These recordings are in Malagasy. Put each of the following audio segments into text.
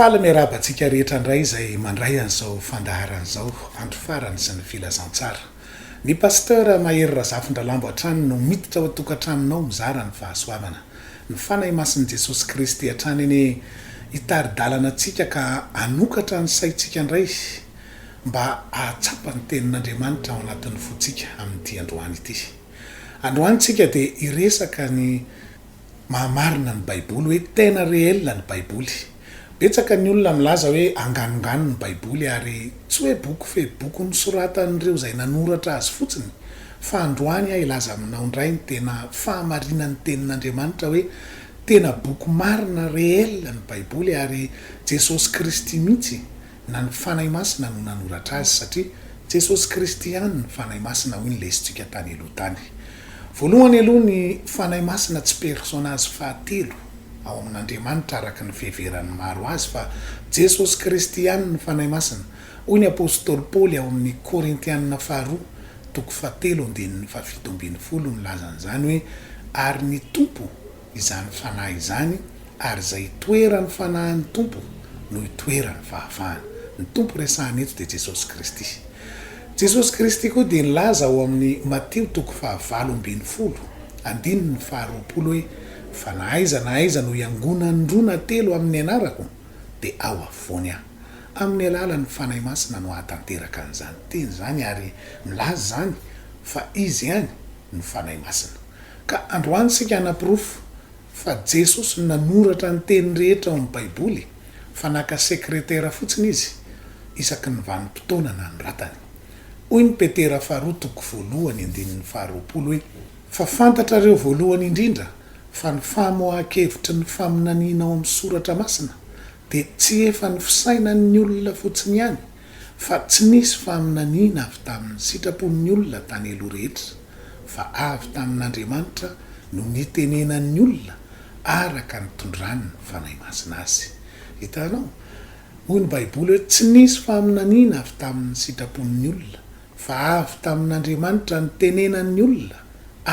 Faly miarahaba antsika rehetra indray izay mandray an'izao fandaharana izao, andro farany sy ny filazantsara. Ny Pasteur Mahery Razafindralambo hatrany no miditra ao an-tokantranonao mizara ny fahasoavana. Ny Fanahy Masin'i Jesosy Kristy hatrany anie hitari-dalana antsika ka hanokatra ny saintsika indray. mba hahatsapa ny Tenin'Andriamanitra ao anatin'ny fontsika amin'ity androany ity. Androany isika dia hiresaka ny maha marina ny Baiboly, hoe tena réel ny Baiboly. Betsaka ny olona milaza hoe anganongano ny Baiboly ary tsy hoe boky fe boky nosoratan'ireo izay nanoratra azy fotsiny. Fa androany aho hilaza aminao indray ny tena fahamarinan'ny Tenin'Andriamanitra hoe tena boky marina réel ny Baiboly ary Jesosy Kristy mihitsy na ny Fanahy Masina no nanoratra azy satria Jesosy Kristy ihany ny Fanahy Masina hoy ny lesintsika tany aloha tany. Voalohany aloha ny Fanahy Masina tsy personazy fahatelo ao amin'Andriamanitra araka ny fiheveran'ny maro azy fa Jesosy Kristy ihany ny Fanahy Masina hoy ny Apostoly Paoly ao amin'ny Korintianina faharoa toko fahatelo andininy fahafito ambin'ny folo nilaza an'izany hoe ary ny Tompo izany fanahy izany, ary izay itoeran'ny fanahin'ny Tompo no itoeran'ny fahafahana. Ny Tompo resahina eto dia Jesosy Kristy. Jesosy Kristy koa dia nilaza ao amin'ny Matio toko fahavalo ambin'ny folo, andininy faharoapolo hoe, Fa na aiza na aiza no hiangonan'ny roa na telo amin'ny anarako, dia ao afovoany aho. Amin'ny alalan'ny Fanahy Masina no ahatanteraka an'izany teny izany ary milaza izany fa Izy ihany no Fanahy Masina. Ka androany isika hanaporofo fa Jesosy no nanoratra ny teny rehetra ao amin'ny Baiboly fa naka sekretera fotsiny Izy isaky ny vanim-potoana nanoratany. Hoy ny Petera faharoa toko voalohany andininy faharoapolo hoe, Fa fantatrareo voalohany indrindra fa ny famoahan-kevitry ny faminaniana ao amin'ny Soratra Masina dia tsy efa ny fisainan'ny olona fotsiny ihany, Fa tsy nisy faminaniana avy tamin'ny sitrapon'ny olona tany aloha rehetra, fa avy tamin'Andriamanitra no nitenenan'ny olona araka ny tondrany ny Fanahy Masina azy. Hitanao? Hoy ny Baiboly hoe, Tsy nisy faminaniana avy tamin'ny sitrapon'ny olona, fa avy tamin'Andriamanitra nitenenan'ny olona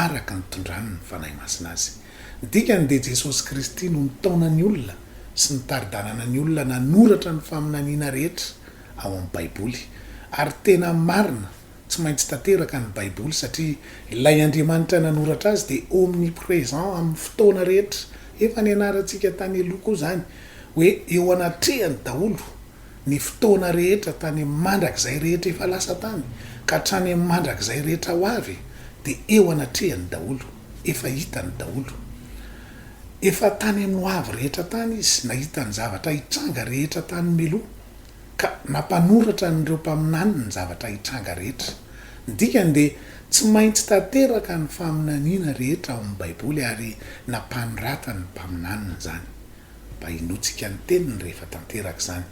araka ny tondrany ny Fanahy Masina azy. Ny dikany dia Jesosy Kristy no nitaona ny olona sy nitari-dalana ny olona nanoratra ny faminaniana rehetra ao amin'ny Baiboly. Ary tena marina, tsy maintsy tanteraka ny Baiboly satria ilay Andriamanitra nanoratra azy dia omnipresent amin'ny fotoana rehetra. Efa nianarantsika tany aloha koa izany hoe eo anatrehany daholo ny fotoana rehetra tany amin'ny mandrakizay rehetra efa lasa tany ka hatrany amin'ny mandrakizay rehetra ho avy dia eo anatrehany daholo. Efa hitany daholo. Efa tany amin'ny ho avy rehetra tany izy, nahita ny zavatra hitranga rehetra tany mialoha, ka nampanoratra an'ireo mpaminany ny zavatra hitranga rehetra. Ny dikany dia tsy maintsy tanteraka ny faminaniana rehetra ao amin'ny Baiboly ary nampanoratany ny mpaminaniny izany, mba hinoantsika ny teniny rehefa tanteraka izany.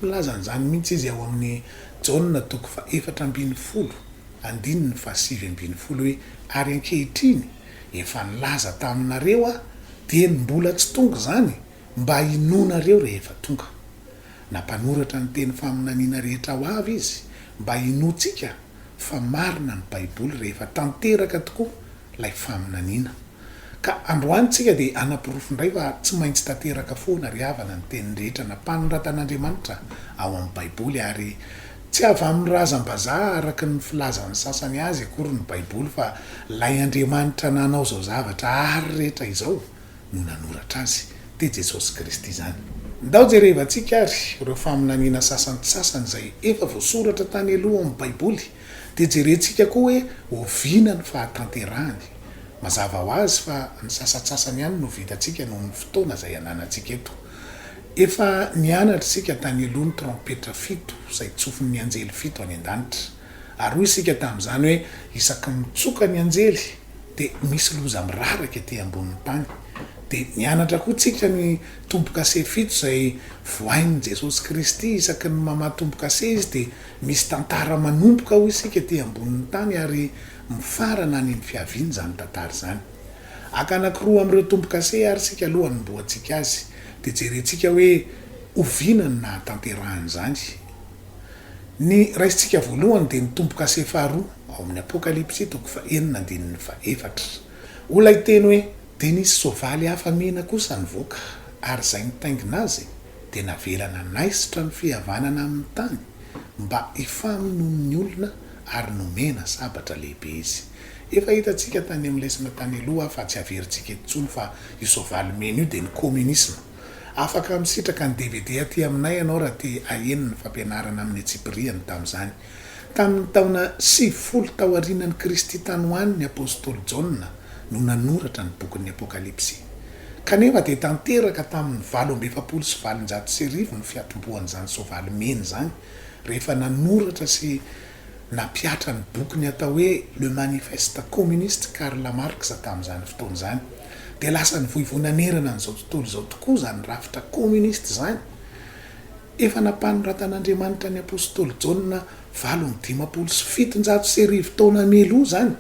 Milaza an'izany mihitsy izy ao amin'ny Jaona toko faha-efatra ambin'ny folo, Andininy fahasivy ambin'ny folo hoe, Ary ankehitriny, efa nilaza taminareo aho, dia ny mbola tsy tonga izany, mba hinoanareo rehefa tonga. Na mpanoratra ny teny faminaniana rehetra ho avy izy, mba hinoantsika fa marina ny Baiboly rehefa tanteraka tokoa ilay faminaniana. Ka androany tsika dia hanaporofo indray fa tsy maintsy tanteraka foana ry havana ny teniny rehetra nampanoratan'Andriamanitra ao amin'ny baiboly ary tsy avy amin'ny razam-bazaha araka ny filazan'ny sasany azy akory ny baiboly fa lay Andriamanitra nanao izao zavatra ary rehetra izao no nanoratra azy dia Jesosy Kristy izany. Ndao jerevantsika ary ireo faminaniana sasantsasany izay efa voasoratra tany aloha ao amin'ny baiboly Dia jerentsika koa hoe oviana ny fahatanterahany. Mazava ho azy fa ny sasantsasany ihany no vitantsika noho ny fotoana izay ananantsika eto. Efa nianatra isika tany aloha ny trompetra fito izay tsofin'ny anjely fito any an-danitra. Ary hoy isika tamin'izany hoe isaky ny mitsoka ny anjely dia misy loza miraraka ety ambonin'ny tany. Dia nianatra koa isika ny tombokase fito izay vohain'i Jesosy Kristy isaky ny mamaha tombokase Izy dia Misy tantara manomboka hoy isika ety ambonin'ny tany ary mifarana any amin'ny fiaviana izany tantara izany. Haka anankiroa amin'ireo tombo-kase ary isika aloha hanombohantsika azy dia jerentsika hoe oviana no nahatanterahany izany. Ny raisintsika voalohany dia ny tombo-kase faharoa ao amin'ny Apokalypsy toko faha enina andininy faha efatra. Hoy ilay teny hoe, Dia nisy soavaly hafa mena kosa nivoaka, ary izay nitaingina azy, dia navela nanaisotra ny fihavanana amin'ny tany mba hifamonoan'ny olona ary nomena sabatra lehibe izy. Efa hitantsika tany amin'ny lesona tany aloha fa tsy averintsika eto intsony fa io soavaly mena io dia ny Kominisma. Afaka misitraka ny dvd aty aminay ianao raha te haheno ny fampianarana amin'ny antsipiriany tamin'izany. Tamin'ny taona sivifolo taorianan'i Kristy tany ho any ny apostoly Jaona no nanoratra ny bokin'ny Apokalypsy. Kanefa dia tanteraka tamin'ny valo amby efapolo sy valonjato sy arivo ny fiatombohan'izany soavaly mena izany rehefa nanoratra sy nampihatra ny bokiny atao hoe Le Manifeste Communiste Karl Marx tamin'izany fotoana izany dia lasa nivoivoy nanerana an'izao tontolo izao tokoa izany rafitra kominista izany Efa nampanoratan'Andriamanitra ny apostoly Jaona valo amby dimampolo sy fitonjato sy arivo taona mialoha izany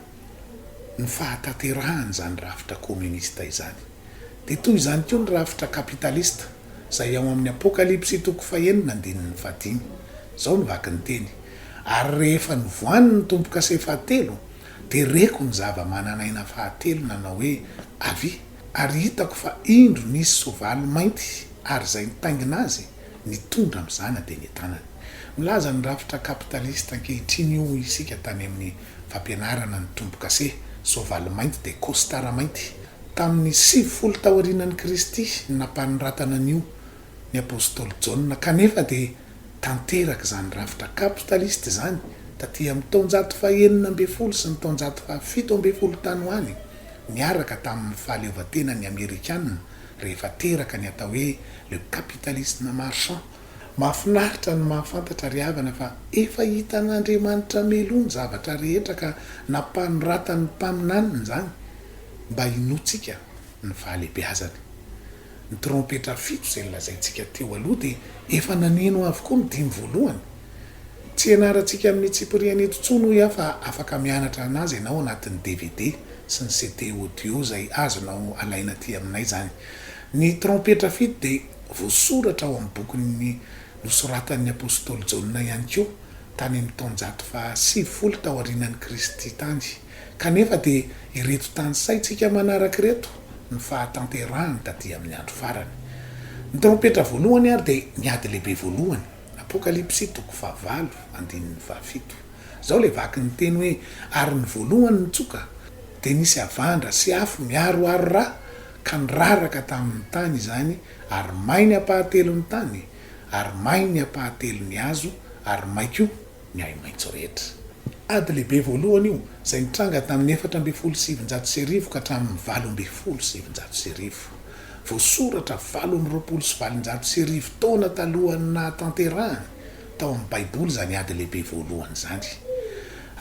ny fahatanterahan'izany rafitra kominista izany. Dia toy izany koa ny rafitra kapitalista, izay ao amin'ny Apokalypsy toko fahenina andininy fahadimy. Izao no vaky ny teny, Ary rehefa novohany ny tombo-kase fahatelo, dia reko ny zava-manan'aina fahatelo nanao hoe, Avia! Ary hitako fa indro nisy soavaly mainty, ary izay nitaingina azy, nitondra mizana dia ny tanany. Milaza ny rafitra kapitalista ankehitriny io hoy isika tany amin'ny fampianarana ny tombo-kase, soavaly mainty dia kostara mainty. Tamin'ny sivifolo taorianan'i Kristy no nampanoratana an'io ny apostoly Jaona, kanefa dia tanteraka izany rafitra kapitalista izany taty amin'ny taonjato fahenina ambin'ny folo sy ny taonjato fahafito ambin'ny folo tany ho any, niaraka tamin'ny fahaleovantenan'ny Amerikana rehefa teraka ny atao hoe le capitalisme marchand. Mahafinaritra ny mahafantatra ry havana fa efa hitan'Andriamanitra meloa ny zavatra rehetra ka nampanoratan'ny mpaminaniny izany mba hinoantsika ny fahalehibeazany. Ny trompetra fito izay nolazaintsika teo aloha dia efa naneno avokoa ny dimy voalohany. Tsy ianarantsika amin'ny tsipiriany eto intsony hoy aho fa afaka mianatra an'azy ianao anatin'ny dvd sy ny CD audio izay azonao alaina aty aminay izany. Ny trompetra fito dia voasoratra ao amin'ny bokin'ny nosoratan'ny apostoly Jaona ihany koa tany amin'ny taonjato faha sivifolo taorianan'i Kristy tany. Kanefa dia ireto tanisaintsika manaraka ireto ny fahatanterahany taty amin'ny andro farany. Ny trompetra voalohany ary dia ny ady lehibe voalohany, Apokalypsy toko fahavalo andininy fahafito. Izao ilay vaky ny teny hoe, Ary ny voalohany nitsoka, dia nisy havandra sy afo miaroaro ra, ka niraraka tamin'ny tany izany, ary may ny ampahatelon'ny tany, ary may ny ampahatelon'ny hazo, ary may koa ny ahi-maitso rehetra. Ady lehibe voalohany io, izay nitranga tamin'ny efatra ambin'ny folo sy sivinjato sy arivo ka hatramin'ny valo ambin'ny folo sy sivinjato sy arivo. Voasoratra valo amby roapolo sy valonjato sy arivo taona talohan'ny nahatanterahany tao amin'ny Baiboly izany ady lehibe voalohany izany.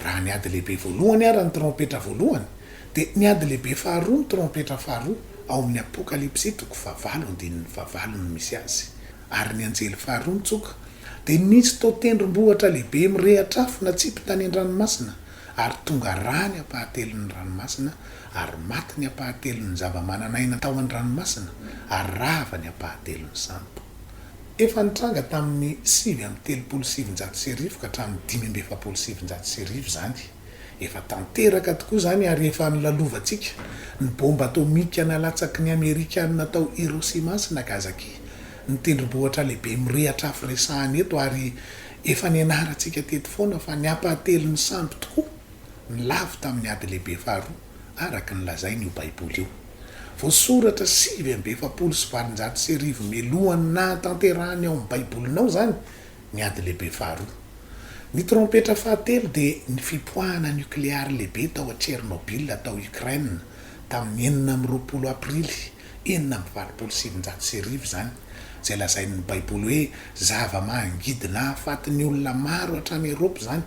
Raha ny ady lehibe voalohany àry ny trompetra voalohany, dia ny ady lehibe faharoa ny trompetra faharoa ao amin'ny Apokalypsy toko fahavalo andininy fahavalo no misy azy. Ary ny anjely faharoa nitsoka, dia nisy toa tendrombohitra lehibe mirehitra afo natsipy tany an-dranomasina, ary tonga rà ny ampahatelon'ny ranomasina, ary maty ny ampahatelon'ny zava-manan'aina tao an-dranomasina, ary rava ny ampahatelon'ny sambo. Efa nitranga tamin'ny sivy amby telopolo sy sivinjato sy arivo ka hatramin'ny dimy amby efapolo sy sivinjato sy arivo izany. Efa tanteraka tokoa izany ary efa nolalovantsika ny bomba atomika nalatsaky ny Amerikana tao Hiroshima sy Nagasaki ny tendrombohitra lehibe mirehitra afo resahana eto ary efa nianarantsika teto foana fa ny ampahatelon'ny sambo tokoa ny lavo tamin'ny ady lehibe faharoa araka ny lazain'io baiboly io voasoratra sivy amby efapolo sy valonjato sy arivo mialohan'ny nahatanterahan'ny ao amin'ny baibolinao izany ny Ady Lehibe Faharoa. Ny trompetra fahatelo dia ny fipoahana nokleary lehibe tao Tchernobyl tao Ukraine tamin'ny enina amby roapolo Aprily enina amby valopolo sy sivinjato sy arivo izany, izay lazain'ny Baiboly hoe zava-mangidy nahafaty ny olona maro hatrany Eropa izany.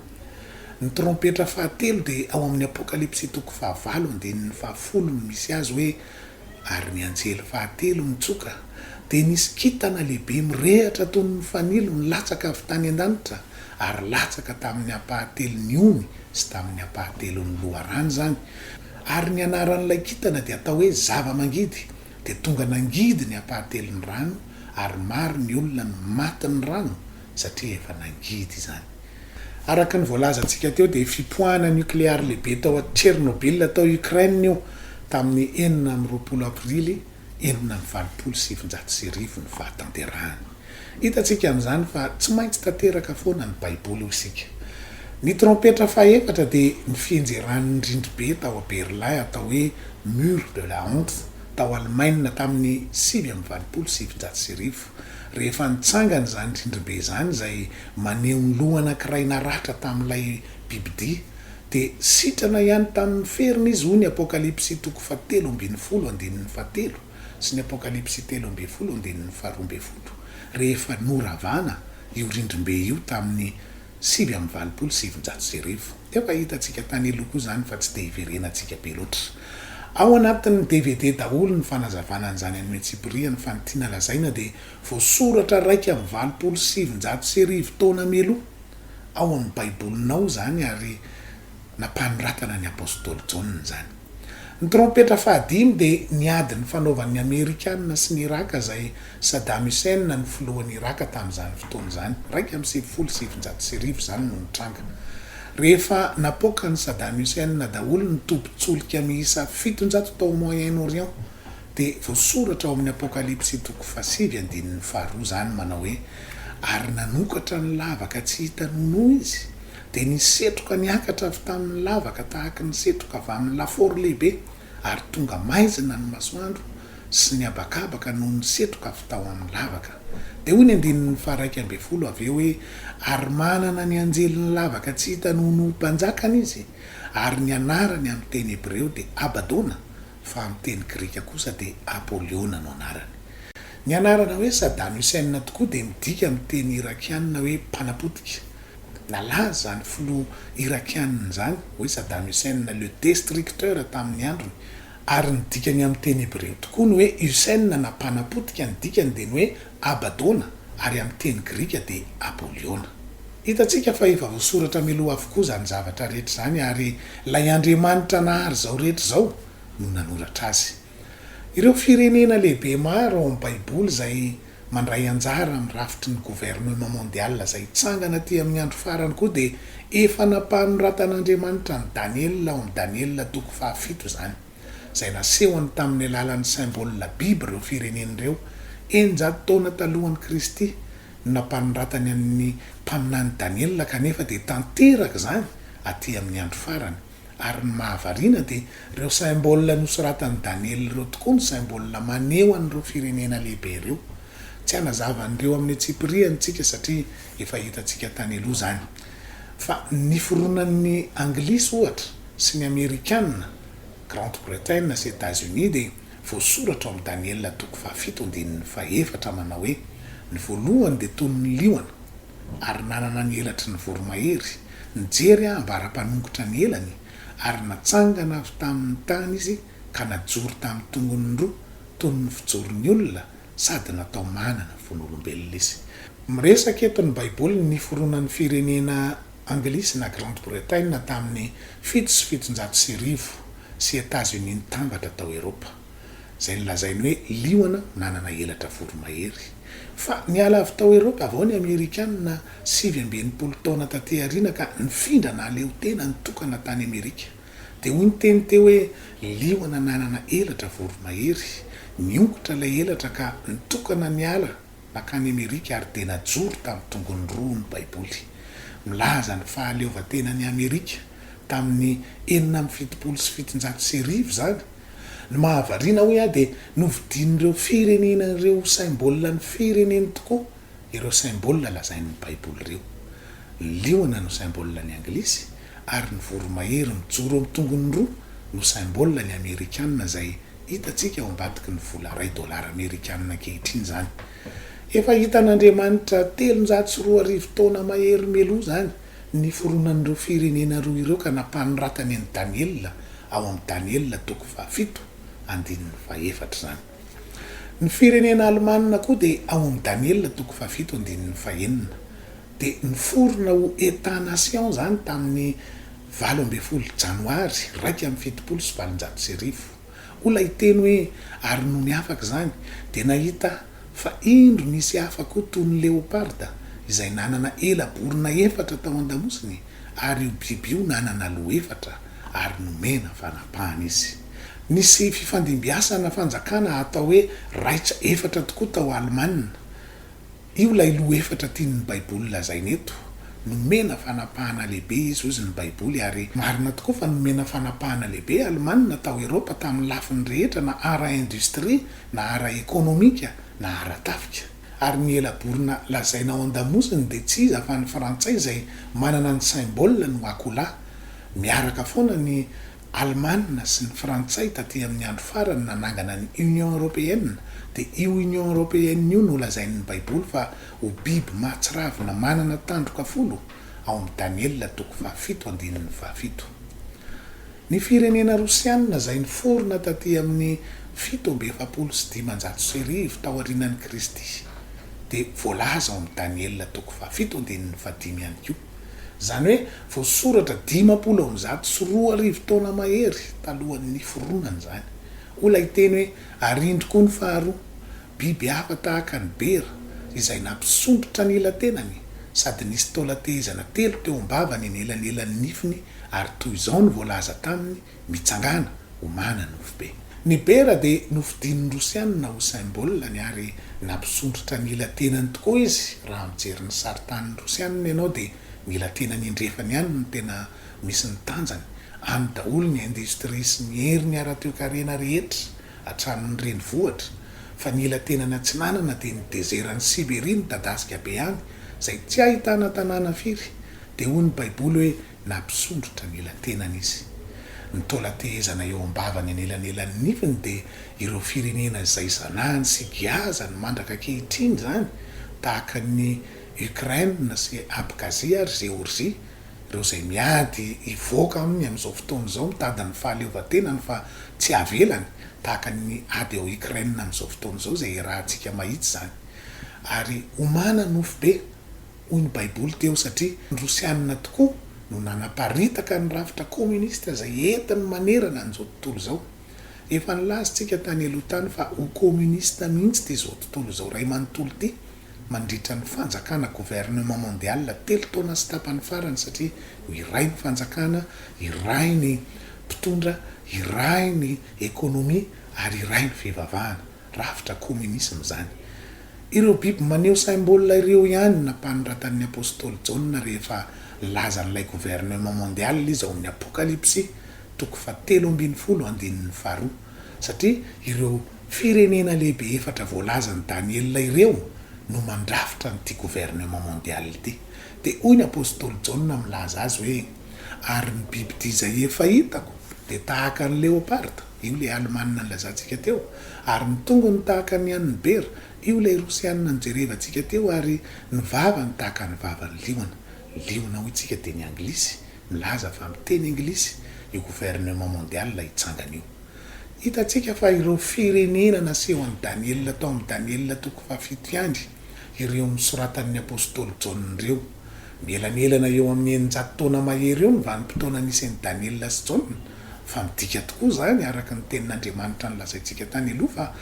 Ny trompetra fahatelo dia ao amin'ny Apokalypsy toko fahavalo andininy fahafolo no misy azy hoe ary ny anjely fahatelo nitsoka, dia nisy kintana lehibe mirehatra toy ny fanilo nilatsaka avy tany an-danitra ary latsaka tamin'ny ampahatelon'ny ony sy tamin'ny ampahatelon'ny loharano izany, ary ny anaran'ilay kintana dia atao hoe Zava-mangidy, dia tonga nangidy ny ampahatelon'ny rano, ary maro ny olona no matin'ny rano satria efa nangidy izany. Araka ny voalazantsika teo dia fipoahana nukleary lehibe tao Tchernobyl tao Ukraine io tamin'ny enina amby roapolo Aprily enina amby valopolo sy sivinjato sy arivo ny fahatanterahany. Hitantsika amin'izany fa tsy maintsy tanteraka foana ny Baiboly hoy isika. Ny trompetra fahefatra dia ny fihenjeran'ny rindribe tao Berlin atao hoe Mur de la Honte tao Alemaina tamin'ny sivy amby valopolo sy sivinjato sy arivo. Tompo, rehefa nitsangana izany tsindribe izany izay maneho ny loha anankiray naratra tamin'ilay bibidia, dia sitrana ihany tamin'ny feriny izy, hoy ny Apokalypsy toko fahatelo ambin'ny folo andininy fahatelo sy ny Apokalypsy telo ambin'ny folo andininy faharoa ambin'ny folo, rehefa noravana io rindrim-be io tamin'ny sivy amby valopolo sy sivinjato sy arivo. Efa hitantsika tany aloha koa izany fa tsy dia iverenantsika be loatra. Ao anatin'ny dvd daholo ny fanazavana an'izany anio antsipirihany fa ny tiana lazaina dia voasoratra iraika amby valopolo sy sivinjato sy arivo taona mialoha ao amin'ny Baibolinao izany ary nampanoratana ny Apostoly Jaona izany. Ny trompetra fahadimy dia ny ady nifanaovan'ny Amerikana sy ny Iraka izay Saddam Hussein no filohan'i Iraka tamin'izany fotoana izany, iraika amby sivifolo sy sivinjato sy arivo izany no nitranga. Rehefa napoakan'i Saddam Hussein daholo ny tobin-tsolika miisa fitonjato tao Moyen-Orient dia voasoratra ao amin'ny Apokalypsy toko fahasivy andininy faharoa izany manao hoe, Ary nanokatra ny lavaka tsy hita noho noho izy, Dia ny setroka niakatra avy tamin'ny lavaka tahaky ny setroka avy amin'ny lafaoro lehibe, ary tonga maizina ny masoandro sy ny habakabaka noho ny setroka avy tao amin'ny lavaka. Dia hoy ny andininy faharaika ambin'ny folo avy eo hoe, Ary manana ny anjelin'ny lavaka tsy hita noho ny ho mpanjakany izy, ary ny anarany amin'ny teny hebreo dia Abadona, fa amin'ny teny grika kosa dia Apoliona no anarany. Ny anarana hoe Saddam Hussein tokoa dia midika amin'ny teny irakiana hoe mpanapotika. Nalaza izany filoha Irakiana izany hoe Saddam Hussein le destructeur tamin'ny androny, ary ny dikany amin'ny teny hebreo tokoa ny hoe Hussein na mpanapotika, ny dikany dia ny hoe Abaddona ary amin'ny teny grika dia Apoliona. Hitantsika fa efa voasoratra mialoha avokoa izany zavatra rehetra izany ary ilay Andriamanitra nahary izao rehetra izao no nanoratra azy. Ireo firenena lehibe maro ao amin'ny Baiboly izay mandray anjara amin'ny rafitry ny governemanta mondial izay hitsangana aty amin'ny andro farany koa dia efa nampanoratan'Andriamanitra an'i Daniela ao amin'ny Daniela toko fahafito izany, izay nasehony tamin'ny alalan'ny symboles biby ireo firenena ireo eninjato taona talohan'i Kristy no nampanoratany an'ny mpaminany Daniela kanefa dia tanteraka izany aty amin'ny andro farany. Ary ny mahavariana dia ireo symbole nosoratan'i Daniela ireo tokoa no symbole maneho an'ireo firenena lehibe ireo. Tsy hanazava an'ireo amin'ny antsipirihany isika satria efa hitantsika tany aloha izany. Fa ny fironan'ny Anglisy ohatra sy ny Amerikana, Grande Bretagne sy Etats-Unis dia voasoratra ao amin'ny Daniela toko fahafito andininy fahefatra manao hoe, Ny voalohany dia toy ny liona, ary nanana ny elatry ny voromahery, nijery aho ambara-panongotra ny elany, ary natsangana avy tamy ny tany izy ka najoro tamy tongony roa toy ny fijoro ny olona sady natao manana vono-olombelona izy. Miresaka eto ny Baiboly ny niforonan' ny firenena Anglisy na Grande Bretagne tamy ny fito sy fitonjato sy arivo sy Etazonia nitambatra tao Eropa. izay nolazainy hoe liona nanana elatra voromahery. Fa niala avy tao Eropa avy ao ny Amerikana sivy amby enimpolo taona taty aoriana ka nifindra nahaleo tena nitokana tany Amerika. Dia hoy ny teny teo hoe liona nanana elatra voromahery. Niongotra ilay elatra ka nitokana niala. Nankany Amerika ary dia najoro tamin'ny tongony roa ny Baiboly. Milaza ny fahaleovantenan'i Amerika tamin'ny enina amby fitopolo sy fitonjato sy arivo izany. Ny mahavariana, hoy aho, dia novidian'ireo firenena ireo ho saim-bolan'ny fireneny tokoa ireo saim-bolana lazain'ny Baiboly ireo. Ny liona no saim-bolan'ny Anglisy ary ny voromahery mijoro amin'ny tongony roa no saim-bolan'ny Amerikana izay Hitantsika ao ambadiky ny vola iray dolara amerikanina ankehitriny izany. Efa hitan'Andriamanitra telonjato sy roa arivo taona mahery meloa izany ny niforonan'ireo firenena roa ireo ka nampanoratany an'i Daniela ao amin'ny Daniela toko fahafito andininy fahefatra izany. Ny firenena alemanina koa dia ao amin'ny Daniela toko fahafito andininy fahenina dia niforona ho Etat-nation izany tamin'ny Valo ambin'ny folo Janoary iraika amby fitopolo sy valonjato sy arivo. Hoy ilay hiteny hoe, Ary nony afaka izany, dia nahita aho fa indro nisy hafa koa toy ny leoparda, izay nanana ela borona efatra tao an-damosiny, ary io biby io nanana loha efatra, ary nomena fanapahana izy. Nisy fifandimbiasana fanjakana atao hoe Reich efatra tokoa tao Alemana. Io ilay loha efatra tian'ny Baiboly lazaina eto. Nomena fanapahana lehibe izy, hozy ny Baiboly, ary marina tokoa fa nomena fanapahana lehibe i Alemana tao Eropa tamin'ny lafiny rehetra na ara-indostria na ara-ekonomika na ara-tafika. Ary ny ela borona lazaina ao an-damosiny dia tsy iza fa ny Frantsay izay manana ny symbole no akola. Miaraka foana ny Alemana sy ny Frantsay taty amin'ny andro farany nanangana ny Union Européenne, dia io Union Européenne io no lazain'ny Baiboly fa ho biby mahatsiravina manana tandroka folo, ao amin'ny Daniela toko fahafito andininy fahafito. Ny firenena Rosiana izay niforona taty amin'ny fito amby efapolo sy dimanjato sy arivo taorianan'i Kristy dia voalaza ao amin'ny Daniela toko fahafito andininy fahadimy ihany koa. Izany hoe voasoratra dimampolo amby zato sy roa arivo taona mahery talohan'ny niforonany izany. Hoy ilay teny hoe, Ary indro koa ny faharoa, biby hafa tahaka ny bera, izay nampisondrotra ny ila-tenany, sady nisy taolan-tehezana telo teo am-bavany anelanelan'ny nifiny, ary toy izao no voalaza taminy, Mitsangàna omana nofo be. Ny bera dia nofidin'ny Rosiana Usain Bollany ary nampisondrotra ny ila-tenany tokoa izy, raha mijery ny saritanin'ny Rosiana ianao dia ny ila-tenany indrefany ihany no tena misy ny tanjany, any daholo ny industrie sy ny heriny ara-toekarena rehetra hatramin'ny renivohitra, fa ny ila-tenany atsinanana dia ny dezeran'i Siberia midadasika be any izay tsy ahitana tanàna firy, dia hoy ny baiboly hoe. na mpisondrotra ny ela-tenany izy. Ny taola tehezana eo am-bavany anelanelan'ny nifiny dia ireo firenena izay zanahany sy giazany mandraka ankehitriny izany, tahaka an'i Ukraine sy Abkhazia ary Géorgie, ireo izay miady hivoaka aminy amin'izao fotoana izao mitady ny fahaleovantenany fa tsy havelany, tahaka ny ady ao Ukraine amin'izao fotoana izao izay iarahantsika mahitsy izany ary homana nofo be. Hoy ny Baiboly teo, Satria ny Rosianina tokoa no nanaparitaka ny rafitra kominista izay entiny manerana an'izao tontolo izao. Efa nilaza isika tany aloha tany fa ho kominista mihitsy ity izao tontolo izao iray manontolo ity mandritra ny fanjakana gouvernement mondial telo taona sy tapany farany satria ho iray ny fanjakana, iray ny mpitondra, iray ny ekonomia ary iray ny fivavahana. Rafitra kominisma izany. Ireo biby maneho symbole ireo ihany no nampanondratan'ny apostoly Jaona rehefa nilazan'ilay governemant mondial izy ao amin'ny Apokalypsy, toko fahatelo ambin'ny folo, andininy faharoa. Satria ireo firenena lehibe efatra voalazan'i Daniela ireo no mandrafitra an'ity governemant mondial ity. Dia hoy ny apostoly Jaona milaza azy hoe, Ary ny bibidia izay efa hitako dia tahaka ny leopard. io ilay Alemana nilazantsika teo, ary ny tongony tahaka ny an'ny bera, io ilay Rosiana nijerevantsika teo, ary ny vavany tahaka ny vavan'ny liona. Liona, hoy tsika, dia ny Anglisy, milaza fa miteny Anglisy io gouvernement mondial hitsangana io. Hitantsika fa ireo firenena nasehon'i Daniela tao amin'ny Daniela toko fahafito ihany ireo nosoratan'ny apostoly Jaona ireo. Mielanelana eo amin'ny eninjato taona mahery eo ny vanim-potoana nisy an'i Daniela sy Jaona, Fa midika tokoa izany, araka ny Tenin'Andriamanitra nolazaintsika tany aloha, fa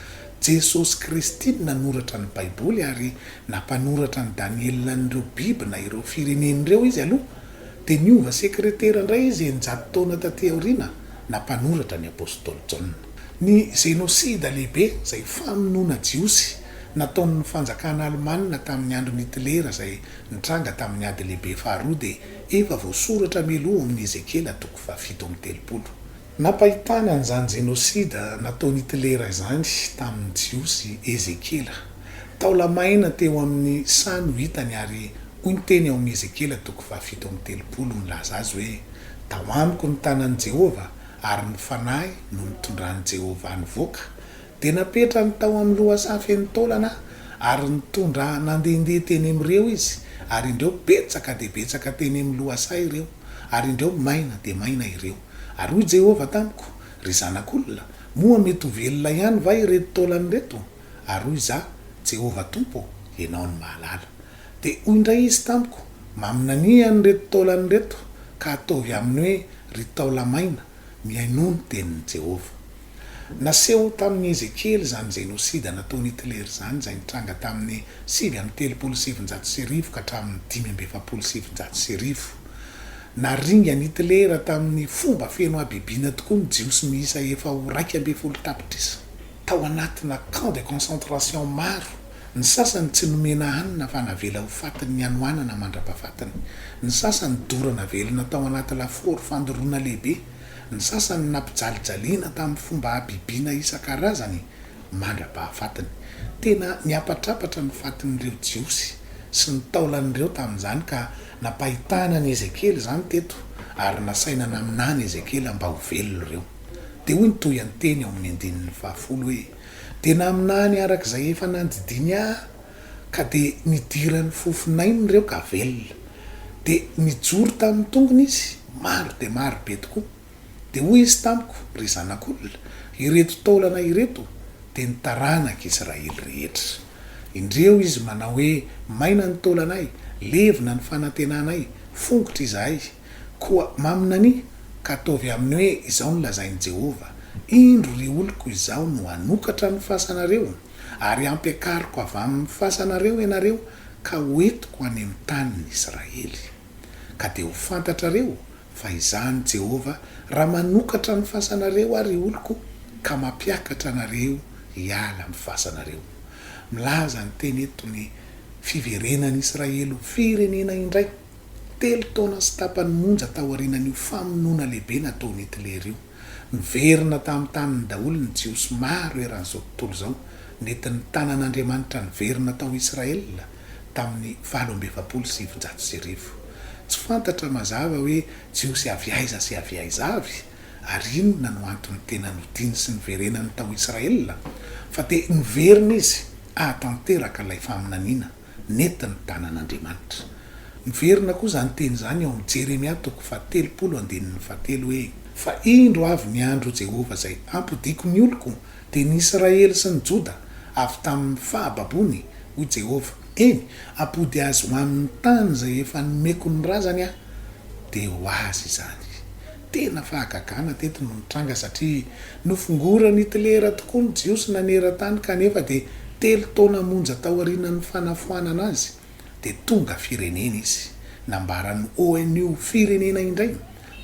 Jesosy Kristy no nanoratra ny Baiboly, ary na mpanoratra an'i Daniela an'ireo biby na ireo firenena ireo izy aloha, dia niova sekretera indray izy eninjato taona tatỳ aoriana, na mpanoratra ny apostoly Jaona. Ny Zenosida Lehibe, izay famonoana Jiosy nataon'ny fanjakana alemana tamin'ny andron'i Hitlera izay nitranga tamin'ny Ady Lehibe Faharoa, dia efa voasoratra mialoha ao amin'i Ezekiela toko. fahafito amby telopolo. Nampahitany an'izany jenôsida nataon'i Hitlera izany tamin'ny Jiosy i Ezekiela. Taola-maina teo amin'ny saha no hitany ary hoy ny teny ao amin'ny Ezekiela toko fahafito amby telopolo milaza azy hoe, Tao amiko ny tanan'i Jehovah, ary ny fanahy no nitondran'i Jehovah nivoaka, Dia napetrany tao amin'ny lohasaha feno taolana ary nitondra nandehandeha teny amin'ireo izy, ary indreo betsaka dia betsaka teny amin'ny lohasaha ireo, ary indreo maina dia maina ireo. Ary hoy Jehovah tamiko, Ry zanak'olona, moa mety ho velona ihany va ireto taolana ireto? Ary hoy izaho, Jehovah Tompo, ianao no mahalala. Dia hoy indray izy tamiko, Maminania an'ireto taolana ireto, ka ataovy aminy hoe, Ry taola-maina, mihainoa ny tenin'i Jehovah. Naseho tamin'i Ezekiela izany jenôsida nataon'i Hitler izany, izay nitranga tamin'ny sivy amby telopolo sy sivinjato sy arivo ka hatramin'ny dimy amby efapolo sy sivinjato sy arivo. Naringan'i Hitler tamin'ny fomba feno habibiana tokoa ny Jiosy miisa efa ho iraika ambin'ny folo tapitrisa, tao anatina camp de concentration maro, ny sasany tsy nomena hanina fa navela ho faty ny hanoanana mandra-pahafatiny, ny sasany dorana velona tao anaty lafaoro fandoroana lehibe, Ny sasany nampijalijaliana tamin'ny fomba habibiana isan-karazany mandra-pahafatiny. Tena niapatrapatra ny fatin'ireo Jiosy sy ny taolany ireo tamin'izany, ka nampahitana an'i Ezekiela izany teto ary nasaina naminany Ezekiela mba ho velona ireo. Dia hoy ny tohian-teny ao amin'ny andininy fahafolo hoe, Dia naminany araka izay efa nandidiany ahy Ka dia nidiran'ny fofon'ainy ireo ka velona. Dia nijoro tamin'ny tongony izy, maro dia maro be tokoa. Dia hoy izy tamiko, Ry zanak'olona, ireto taolana ireto dia ny taranak'Israely rehetra. Indreo izy manao hoe, Maina ny taolanay, levona ny fanantenanay, fongotra izahay. Koa maminania, ka ataovy aminy hoe izao no lazain'i Jehovah, Indro, ry oloko, izaho no hanokatra ny fasanareo. ary hampiakariko avy amin'ny fasanareo ianareo ka ho entiko any amin'ny tanin'i Israely. Ka dia ho fantatrareo fa izaho ny Jehovah raha manokatra ny fasanareo ary ny oloko ka mampiakatra anareo hiala amin'ny fasanareo. Milaza ny teny eto ny fiverenan'i Israely ho firenena indray, telo taona sy tapany monja taorianan'io famonoana lehibe nataon'i Hitler io. Niverina tamin'ny taniny daholo ny Jiosy maro eran'izao tontolo izao. Nentin'ny tanan'Andriamanitra niverina tao Israela tamin'ny valo amby efapolo sy sivinjato sy arivo. Tsy fantatra mazava hoe Jiosy avy aiza sy avy aiza avy, ary inona no antony tena nodiany sy niverenany tao Israela, fa dia niverina izy hahatanteraka ilay faminaniana. nety ny tanan'Andriamanitra. Miverina koa izany teny izany ao amin'ny Jeremia toko fahatelopolo andininy fahatelo hoe, Fa indro avy ny andro, ho Jehovah izay hampodiako ny oloko, dia ny Israely sy ny Joda, avy tamin'ny fahababoany, hoy Jehovah, eny, hampody azy ho amin'ny tany izay efa nomeko ny razany Aho, dia ho azy izany. Tena fahagagana teto no nitranga satria nofongoran'i Hitlera tokoa ny Jiosy naneran-tany kanefa dia telo taona monja taorianan'ny fanafoanana azy dia tonga firenena izy. Nambaran'ny ONU ho firenena indray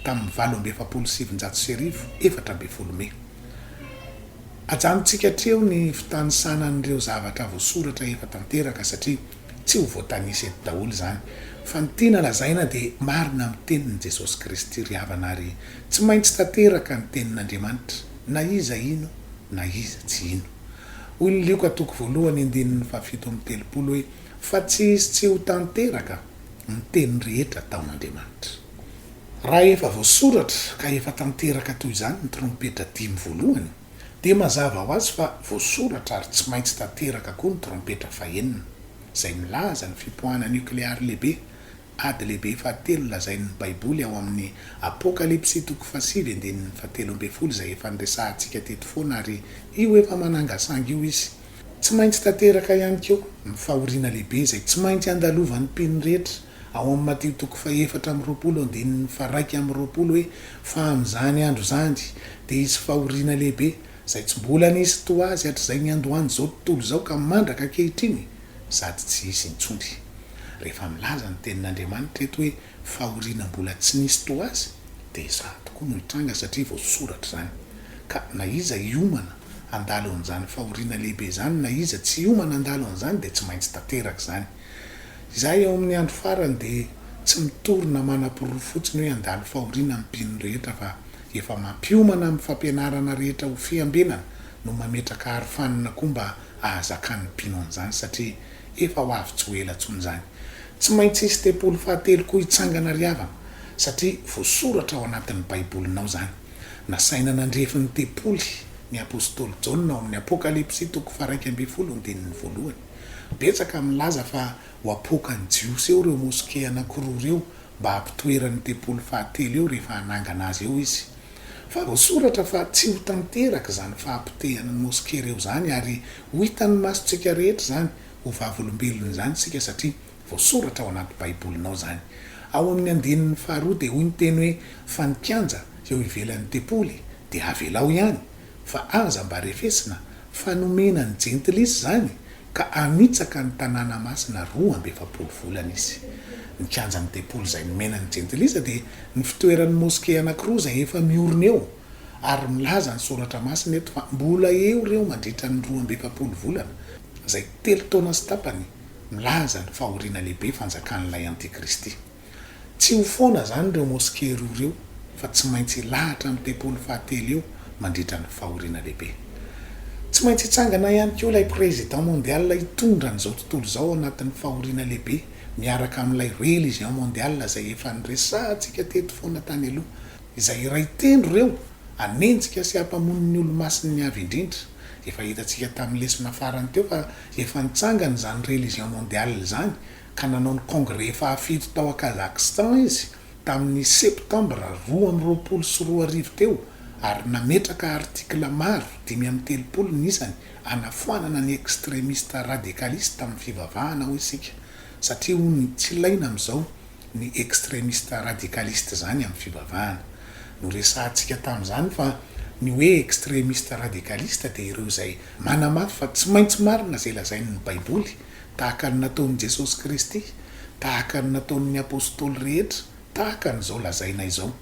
tamin'ny valo amby efapolo sy sivinjato sy arivo, efatra ambin'ny folo Mey. Ajanontsika hatreo ny fitanisana an'ireo zavatra voasoratra efa tanteraka satria Tsy ho voatanisa eto daholo izany, fa ny tiana lazaina dia marina amin'ny tenin'i Jesosy Kristy ry havana ary tsy maintsy tanteraka ny tenin'Andriamanitra na iza hino na iza tsy hino. Hoy ny Lioka toko voalohany andininy fahafito amby telopolo hoe, Fa tsy hisy tsy ho tanteraka ny teny rehetra ataon'Andriamanitra. Raha efa voasoratra ka efa tanteraka toy izany ny trompetra dimy voalohany, Dia mazava ho azy fa voasoratra ary tsy maintsy tanteraka koa ny trompetra fahenina, izay milaza ny fipoahana niokleary lehibe, ady lehibe fahatelo lazain'ny Baiboly ao amin'ny Apokalypsy toko fahasivy andininy fahatelo ambin'ny folo izay efa niresahantsika teto foana ary io efa manangasanga io izy. Tsy maintsy tanteraka ihany koa ny fahoriana lehibe izay tsy maintsy andalovan'ny mpino rehetra Ao amin'i Matio toko fahefatra amby roapolo andininy faharaika amby roapolo hoe, Fa amin'izany andro izany dia hisy fahoriana lehibe, izay tsy mbola nisy toa azy hatrizay niandohan'izao tontolo izao ka mandraka ankehitriny sady tsy hisy intsony. Rehefa milaza ny Tenin'Andriamanitra eto hoe fahoriana mbola tsy nisy toa azy dia izany tokoa no hitranga satria voasoratra izany. Ka na iza hiomana handalo an'izany fahoriana lehibe izany na iza tsy hiomana handalo an'izany dia tsy maintsy tanteraka izany. Izahay ao amin'ny andro farany dia tsy mitory na manaporofo fotsiny hoe handalo fahoriana ny mpino rehetra fa efa mampiomana amin'ny fampianarana rehetra ho fiambenana no mametraka arofanina koa mba hahazakan'ny mpino an'izany satria efa ho avy tsy ho ela intsony izany. Tsy maintsy hisy tempoly fahatelo koa hitsangana ry havana satria voasoratra ao anatin'ny baibolinao izany. Nasaina nandrefy ny tempoly ny apostoly Jaona ao amin'ny Apokalypsy toko faharaika ambin'ny folo andininy voalohany. Betsaka ny milaza fa ho apoakan'ny Jiosy eo ireo moske anankiroa ireo mba hampitoerany io tempoly fahatelo io rehefa hanangana azy eo izy. Fa voasoratra fa tsy ho tanteraka izany fahapotehana ny moske ireo izany ary ho hitan'ny masontsika rehetra izany ho vavolombelona izany isika satria voasoratra ao anaty Baibolinao izany. Ao amin'ny andininy faharoa dia hoy ny teny hoe fa ny kianja eo ivelan'ny tempoly dia avelao ihany fa aza mba refesina fa nomena ny jentilisa izany ka hanitsaka ny tanàna masina roa amby efapolo volana izy. Ny kianjan'ny tempoly izay nomena ny jentilisa dia ny fitoeran'ny moske anankiroa izay efa miorina eo ary milaza ny soratra masina eto fa mbola eo ireo mandritra ny roa amby efapolo volana izay telo taona sy tapany milaza ny fahoriana lehibe fanjakan'ilay antikristy. Tsy ho foana izany ireo moske roa ireo fa tsy maintsy hilahatra amin'ny tempoly fahatelo eo mandritra ny fahoriana lehibe. Tsy maintsy hitsangana ihany koa ilay président mondial hitondra an'izao tontolo izao anatin'ny fahoriana lehibe miaraka amin'ilay religion mondial izay efa niresahantsika teto foana tany aloha izay iray tendro ireo hanenjika sy hampamono ny olomasin'ny avy indrindra. Efa hitantsika tamin'ny lesona farany teo fa efa nitsangana izany religion mondial izany ka nanao ny kongre fahafito tao a Kazakhstan izy tamin'ny Septambra roa amby roapolo sy roa arivo teo ary nametraka artikla maro, dimy amby telopolo ny isany, hanafoanana ny ekstremista radikalista amin'ny fivavahana hoy isika satria hoy ny tsy ilaina amin'izao ny ekstremista radikalista izany amin'ny fivavahana. Noresahantsika tamin'izany fa ny hoe ekstremista radikalista dia ireo izay manamafy fa tsy maintsy marina izay lazain'ny Baiboly tahaka ny nataon'i Jesosy Kristy, tahaka ny nataon'ny Apostoly rehetra, tahaka an'izao lazaina izao.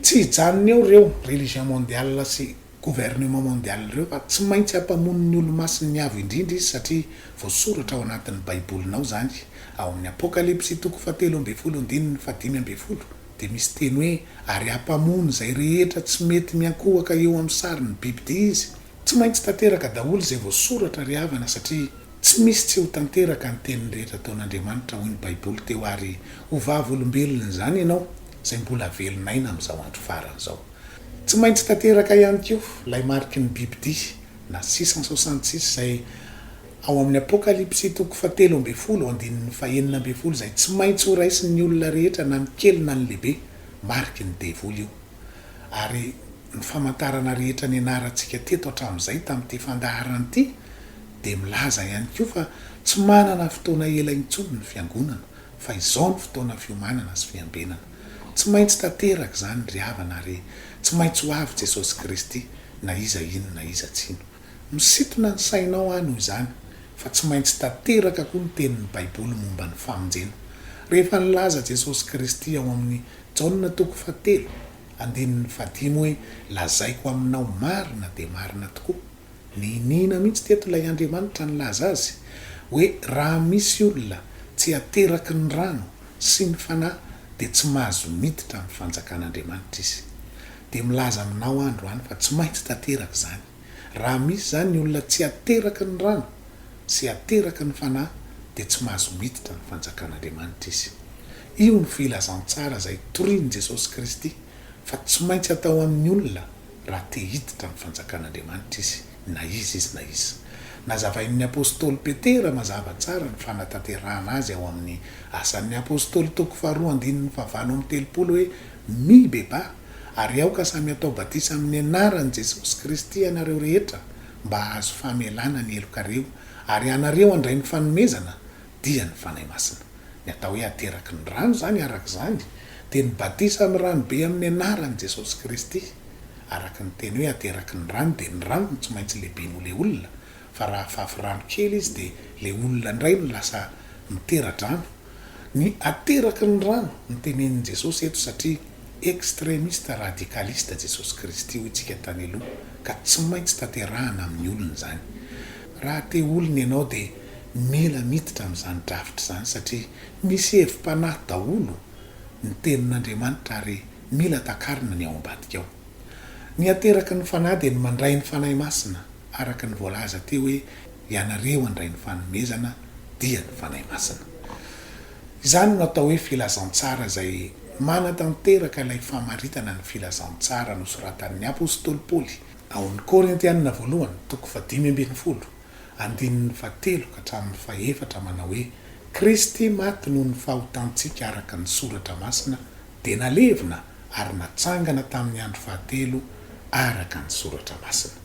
Tsy hijanona eo ireo religion mondiale sy gouvernement mondiale ireo fa tsy maintsy hampamono ny olomasin'ny Avo Indrindra izy satria voasoratra ao anatin'ny Baibolinao izany ao amin'ny Apokalypsy toko fahatelo ambin'ny folo andininy fahadimy ambin'ny folo dia misy teny hoe ary hampamono izay rehetra tsy mety miankohoka eo amin'ny sarin'ny bibidia izy. Tsy maintsy tanteraka daholo izay voasoratra ry havana satria tsy misy tsy ho tanteraka ny teniny rehetra ataon'Andriamanitra hoy ny baiboly teo ary ho vavolombelony izany ianao izay mbola velon'aina amin'izao andro farany izao. Tsy maintsy tanteraka ihany koa ilay mariky ny bibidia na six cent soixante six izay ao amin'ny apokalypsy toko faha telo ambin'ny folo andininy faha enina ambin'ny folo izay tsy maintsy ho raisin'ny olona rehetra na ny kely na ny lehibe, mariky ny devoly io ary Ny famantarana rehetra nianarantsika teto hatramin'izay tamin'ity fandaharana ity dia milaza ihany koa fa tsy manana fotoana ela intsony ny Fiangonana fa izao no fotoana fiomanana sy fiambenana. Tsy maintsy tanteraka izany ry havana ary tsy maintsy ho avy Jesosy Kristy na iza hino na iza tsy hino. Misintona ny sainao aho noho izany fa tsy maintsy tanteraka koa ny tenin'ny Baiboly momba ny famonjena rehefa nilaza Jesosy Kristy ao amin'ny Jaona toko fahatelo, Andininy fahadimy hoe, Lazaiko aminao marina dia marina tokoa. Niniana mihitsy teto ilay Andriamanitra nilaza azy hoe raha misy olona tsy ateraky ny rano sy ny Fanahy dia tsy mahazo miditra amin'ny fanjakan'Andriamanitra izy. Dia milaza aminao aho androany fa tsy maintsy tanteraka izany. Raha misy izany ny olona tsy ateraka ny rano, tsy ateraka ny Fanahy, dia tsy mahazo miditra ny fanjakan'Andriamanitra izy. Io no filazantsara izay torian'i Jesosy Kristy fa tsy maintsy atao amin'ny olona raha te hiditra ny fanjakan'Andriamanitra izy na iza izy na iza. Nazavain'ny apostoly Petera mazava tsara ny fanatanterahana azy ao amin'ny Asan'ny Apostoly toko faharoa andininy fahavalo amby telopolo hoe, Mibebaha, Ary aoka samy hatao batisa amin'ny anaran'i Jesosy Kristy ianareo rehetra mba hahazo famelana ny helokareo, ary ianareo handray ny fanomezana, dia ny Fanahy Masina. Ny atao hoe ateraky ny rano izany, araka izany, dia ny batisa amin'ny rano be amin'ny anaran'i Jesosy Kristy. Araka ny teny hoe ateraky ny rano dia ny rano no tsy maintsy lehiben'olea olona, fa raha afafy rano kely izy dia ilay olona indray no lasa mitera-drano. Ny ateraky ny rano no tenenin'i Jesosy eto satria extremista radicalista Jesosy Kristy hoy tsika tany aloha ka tsy maintsy tanterahana amin'ny olona izany. Raha te olona ianao dia mila miditra amin'izany drafitra izany satria misy hevi-panahy daholo ny tenin'Andriamanitra ary mila takarina ny ao ambadika ao. Ny ateraky ny fanahy dia ny mandray ny Fanahy Masina. Araka ny voalaza teo hoe ianareo handray ny fanomezana dia ny Fanahy Masina. Izany no atao hoe filazantsara izay manatanteraka ilay famaritana ny filazantsara nosoratan'ny apostoly Paoly ao amin'ny Korintianina voalohany toko fahadimy ambin'ny folo andininy fahatelo ka hatramin'ny fahefatra manao hoe Kristy maty noho ny fahotantsika araka ny soratra masina dia nalevina ary natsangana tamin'ny andro fahatelo araka ny Soratra Masina.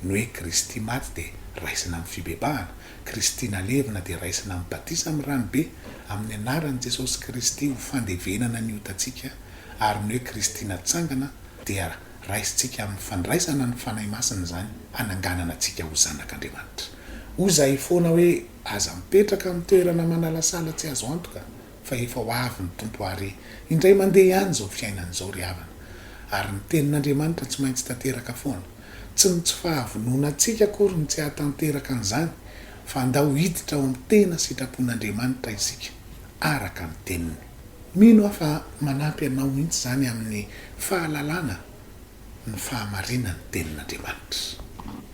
Ny hoe Kristy maty dia raisina amin'ny fibebahana, Kristy nalevina dia raisina amin'ny batisa amin'ny ranobe amin'ny anaran'i Jesosy Kristy ho fandevenana ny otantsika ary ny hoe Kristy natsangana dia raisintsika amin'ny fandraisana ny Fanahy Masina izany hananganana antsika ho zanak'Andriamanitra. Hoy izahay foana hoe aza mipetraka amin'ny toerana manalasala tsy azo antoka. fa efa ho avy ny Tompo àry. Indray mandeha ihany izao fiainana izao ry havana, ary ny Tenin'Andriamanitra tsy maintsy tanteraka foana. Tsy ny tsy fahavononantsika akory no tsy hahatanteraka an'izany, fa andao hiditra ao amin'ny tena sitrapon'Andriamanitra isika, araka ny Teniny. Mino aho fa manampy anao mihitsy izany amin'ny fahalalana ny fahamarinan'ny Tenin'Andriamanitra.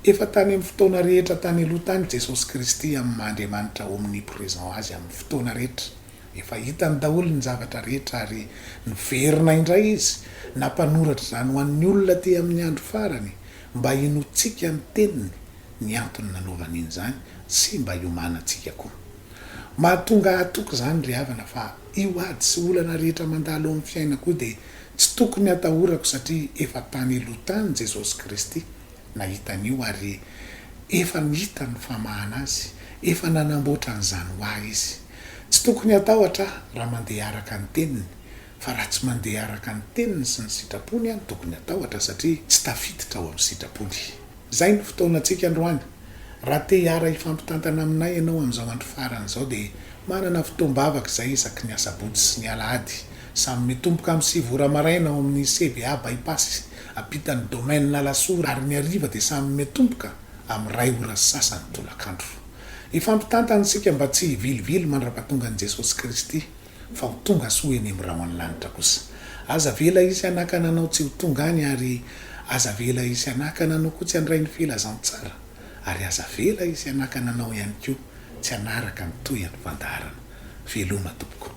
Efa tany amin'ny fotoana rehetra tany aloha tany Jesosy Kristy amin'ny maha Andriamanitra omnipresent Azy amin'ny fotoana rehetra. Efa hitany daholo ny zavatra rehetra ary niverina indray Izy nampanoratra izany ho an'ny olona aty amin'ny andro farany mba hinoantsika ny Teniny ny antony nanaovany in'izany sy mba hiomanantsika koa. Mahatonga ahy toky izany ry havana fa io ady sy olana rehetra mandalo amin'ny fiainako io dia Tsy tokony hatahorako satria efa tany aloha tany Jesosy Kristy nahita an'io ary efa nita ny famahana azy, efa nanamboatra an'izany ho ahy Izy. Tsy tokony hatahotra aho raha mandeha araka ny teniny fa raha tsy mandeha araka ny teniny sy ny sitrapony aho no tokony hatahotra satria tsy tafiditra ao amin'ny sitrapony. Izay no fotoanantsika androany. Raha te hiara hifampitantana aminay ianao amin'izao andro farany izao dia manana fotoam-bavaka izay isaky ny asabotsy sy ny alahady. Samy mitomboka amin'ny sivy ora maraina ao amin'ny CVA Bypass ampitan'ny domaine Alasora ary ny hariva dia samy mitomboka amin'ny iray ora sy sasany tolakandro. Hifampitantana isika mba tsy hivilivily mandrapatongan'i Jesosy Kristy. fa ho tonga soa eny amin'ny rahon'ny lanitra kosa. Aza avela hisy hanakana anao tsy ho tonga any ary aza avela hisy hanakana anao koa tsy handray ny filazantsara ary aza avela hisy hanakana anao ihany koa tsy hanaraka ny tohin'ny fandaharana. Veloma tompoko.